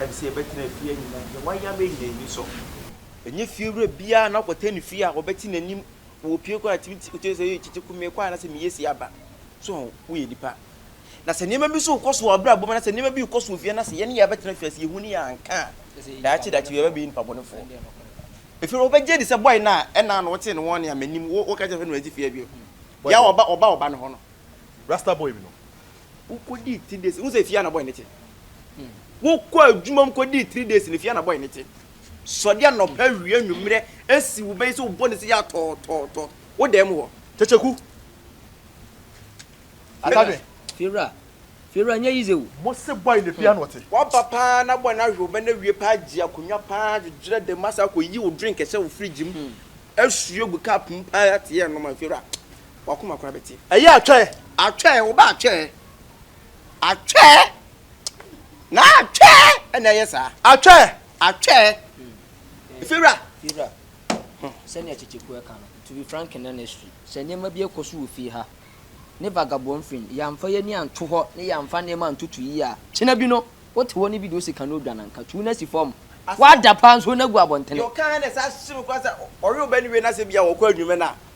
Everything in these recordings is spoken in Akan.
Ɛne sɛ yɛbɛtena efie anyinam deɛ wayam ayi yɛn ani so. Ɛnyɛ fiewura biara na ɔkɔtɛ ne fie a ɔbɛte n'anim wɔ opue kwan a ɛtumi te otumi sɛ ɛyɛ kyekye kumee kwan anaasɛ meyɛ si aba. So ho woyɛ nipa. Na sɛ nneɛma bi nso rekɔ so wɔ abrabɔ mu anaasɛ nneɛma bi rekɔ so wɔ fie anaasɛ yɛne yɛn abɛtena fie anaasɛ yɛhu ne yɛn anka a, daakye daakye yɛba bɛyɛ nipa bɔnefoɔ. Ɛfiri sɛ wobɛgye adi sɛ bɔe no a ɛna ano wotee no wɔne a m'anim wo woka kyerɛ sɛ na wagye fie abio. Yɛ a ɔba ɔba ɔba ne hɔ no. Rasta boy bi no Wokodii three days, wohu sɛ fie a na bɔy no te. Wokɔ adwuma mu kodii three days no fie a na bɔy no te. Sɔde anɔpa wie anwummerɛ asi wo bɛyi sɛ wobɔ ne sɛ yɛ atɔɔtɔɔtɔ wo dan mu hɔ. Kyekyeku. Atadwe. Fiewura, fiewura nyɛ yize o. Mo se bɔy no fie a na ɔte. Waba paa na bɔy no ahwe wo bɛ na awie paa gye akonwa paa dwedwerɛ dan mu asan akɔyi wo drink hyɛ wo fridge mu asue gu cup mu paa te yɛ nom a fiewura. w'akoma koraa bɛte. Ɛyɛ atwɛɛ, atwɛɛ, wo ba atwɛɛ, atwɛɛ, na atwɛɛ ɛna ɛyɛ saa. Atwɛɛ. Atwɛɛ. Fiwura. Fiwura. Sɛnea Kyekyeku ɛka no, to be frank and honestly, sɛ nneɛma bi ɛkɔ so wɔ fie ha, ne vagabondfing, yɛanfa y'ani anto hɔ ne yɛanfa nneɛma antoto yie a, kyena bi no, wote hɔ ne bi deɛ ose kane odwa nanka, tu no asi fɔm, w'ada paa nso na gu abɔntene. Deɛ ɔka ha na ɛsan hyem koraa sɛ ɔwe ɔbaa no wie na sɛ bia ɔkɔ adwuma no a,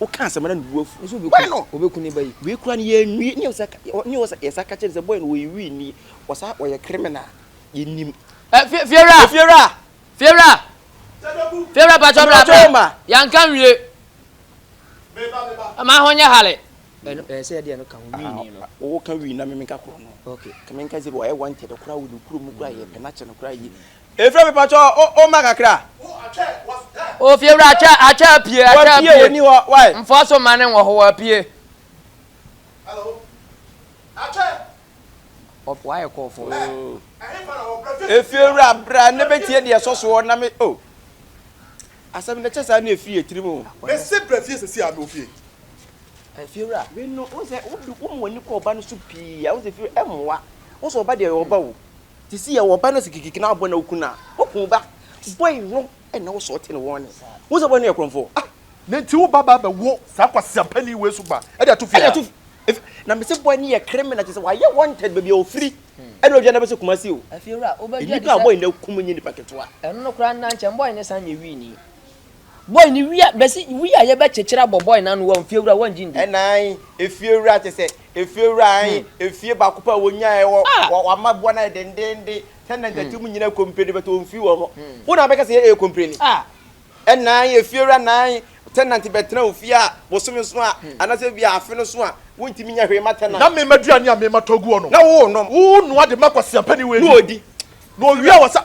woka asɛm na ne bo afu nso boy no obeku ne ba yi wei kura no yɛnwie ne yɛsa ne yɛsa yɛsa ka kyerɛ sɛ boy no wɔyɛ wii ni wɔsa wɔyɛ criminal yɛnim ɛ fie fiewura fiewura fiewura fiewura patro bra bra yanka nwie ma ho nyɛ hale ɛno ɛyɛ sɛ yɛde ɛno ka ho wii ni no wɔwɔ ka wii na memenka korɔ no okay ka menka zero ɔyɛ wanted koraa wɔ ne kuro mu koraa yɛ pɛ na kyɛ no koraa yi Efra mi patsɔ o o ma kakra. O fiewura akyɛ akyɛ apue akyɛ apue. Wɔpie wɔni hɔ why. Nfɔ so ma ne wɔ hɔ wɔpie. Hello. Akyɛ. Ɔfɔ ayɛ kɔɔfɔ. Efiewura bra ne bɛ tie deɛ ɛsɔ soɔ na me o. Asɛm no kyɛ saa ne efiri etirim o. Mese bra fie sɛsi a me ofie. Efiewura wei no wo sɛ wo de wo mu ani kɔ ɔba no so pii a wo sɛ efiewura ɛmoa wo sɛ ɔba deɛ ɔba o. Te se yɛwɔ ɔba na se kikiki na abɔ na oku na oku ba boy no na wo sɔɔte no wɔn ne wohu sɛ boy no yɛ korɔmfoɔ ah. Na nti wo ba ba bɛ wo saa kwaseapani wei so ba de ato fie a. Na me se boy no yɛ krimina te sɛ wayɛ wanted baabi a ofiri ɛna odwa na bɛ se kumasi o. Afie wura wo bɛ dwa de sɛ. Nipa a boy no akum nyɛ nipa ketewa. Ɛno no koraa nna nkyɛ boy no san nyɛ wii ni. Boy no wia bɛsi wia yɛ bɛ kyekyere abɔ boy no ano wɔ nfiewura wɔn gye ndi. Ɛna ae efiewura te sɛ efiewura ae efie baako pɛ a wɔnya ɛwɔ wɔn mma boa no ayɛ dendeenden sɛ na nkyɛkyɛ mu nyina kompleni bɛtɔ wɔn firi wɔ hɔ wo na bɛka sɛ yɛ ɛyɛ kompleni ɛna ae efiewura na ae tɛnante bɛ tena ofie a bosome so a ana sɛ bia afe no so a wo ntimi nyɛ hwee ma tɛnante. Na me ma duane a me ma tɔ gu hɔ no na wo nom wo noa de ma kwasia pɛni wei no ɔdi na ɔwia wɔ sa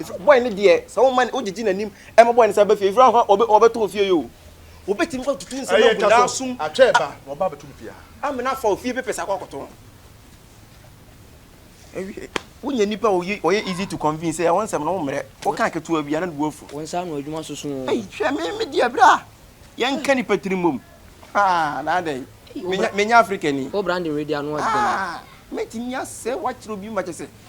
Ɛfiri bɔe no deɛ sɛ woma no wogyegye n'anim ɛma bɔe no sɛ bɛfie ɛfiri ahɔ ɔbɛ ɔbɛtɔ ofie yi o wobɛtumi fa tutu nsɛm agu n'asum atwa ɛba na ɔba abɛto no fie ha amena fa ofie pepɛ sɛ akɔ akɔtɔ ɛwie wonya nipa ɔyɛ ɔyɛ easy to convince sɛ ɛwɔ nsɛm no wommrɛ woka aketewa bi ana ne bu afu wɔn nsa ano adwuma soso ɛyi hwɛ me me deɛ bra yɛnka nipa tiri mmom haa na adɛn menya menya afrikani wo branding wei deɛ ano ɔdɛ mɛtumi asɛ wakyerɛ obi ma kyɛ sɛ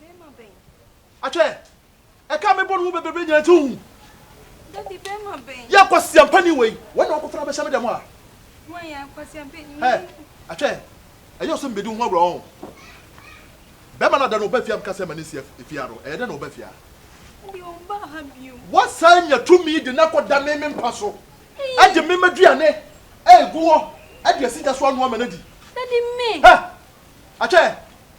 Bɛɛma bɛn? Atwɛ! Ɛka me bɔ no ho bebrebe nyina nti wohu. Daddy, bɛɛma bɛn? Yɛ kwasiampani wei. Wɔn na wɔkɔfa no abɛhyɛ me dɛm a. Wɔn yɛ kwasiampani. Hɛ! Atwɛ! Ɛyɛ ɔsɛ mbedi wo ho agorɔ ɔn. Bɛɛma no ada na ɔba fie a meka sɛ ma no nsi efie ha no, ɛyɛ dɛn na ɔba fie ha? Daddy, ɔmmbaa ha bio. Wɔsan nya tumi de no akɔdane me mpa so, de me m'aduane agu hɔ, de asi gya so anoa ma no adi. Daddy, me! Hɛ! Atwɛ!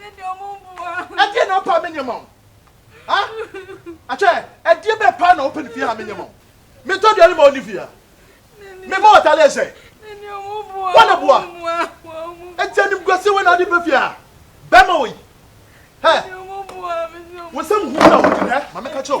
ɛdeɛ na wopɛ a menyɛ ma wo ha akyɛ ɛdeɛ bɛ paa na wopɛ no fie ha menyɛ ma wo metɔ aduane ma wo ne fie ha mema wɔtale ɛsɛ wɔna boa ɛti animguaseɛ wɔ na wode bɛ fie ha bɛma wɔ yi hɛ wo nsɛm hu na wodin hɛ ma meka kyerɛ wo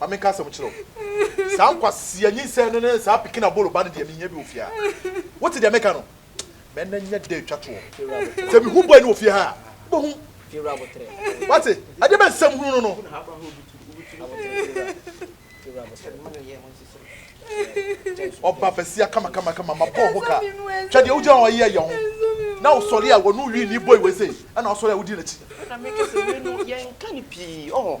ma menka asɛm kyerɛ wo, saa nkwasea nyinsɛn no ne saa pikin abolo ba no deɛ menhia bi wɔ fie ha. Wote deɛ meka no? Ma ɛnnɛ nyɛ da a ɛtwa toɔ. Sɛ mehu boy no wɔ fie ha a, wobɛhu. Woate? Ɛdeɛ bɛn nsɛm hunu no no? Ɔba basia kamakamakama, mabɔ wo ho ka. Hwɛ deɛ wogyina hɔ a yeyɛ yɛ ho na wosɔre a w'ano nwi nni boy wei sei, ɛnna wosɔre a wodi n'akyi. Ɛnna meka sɛ wei no yɛnka no pii, ɔho.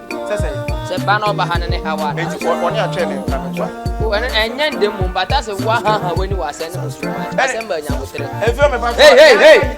sɛ sɛ. Sɛ ba na ɔba ha no ne awa na. Enti wɔ ɔne atwɛn ne nka no to a. O ɛno ɛnyɛ ndɛ mmom but asɛ woahaha w'ani wɔ asɛn no mu so a asɛm baa nyabotere. Ɛfiri ɔmɛ pa. Hey hey hey.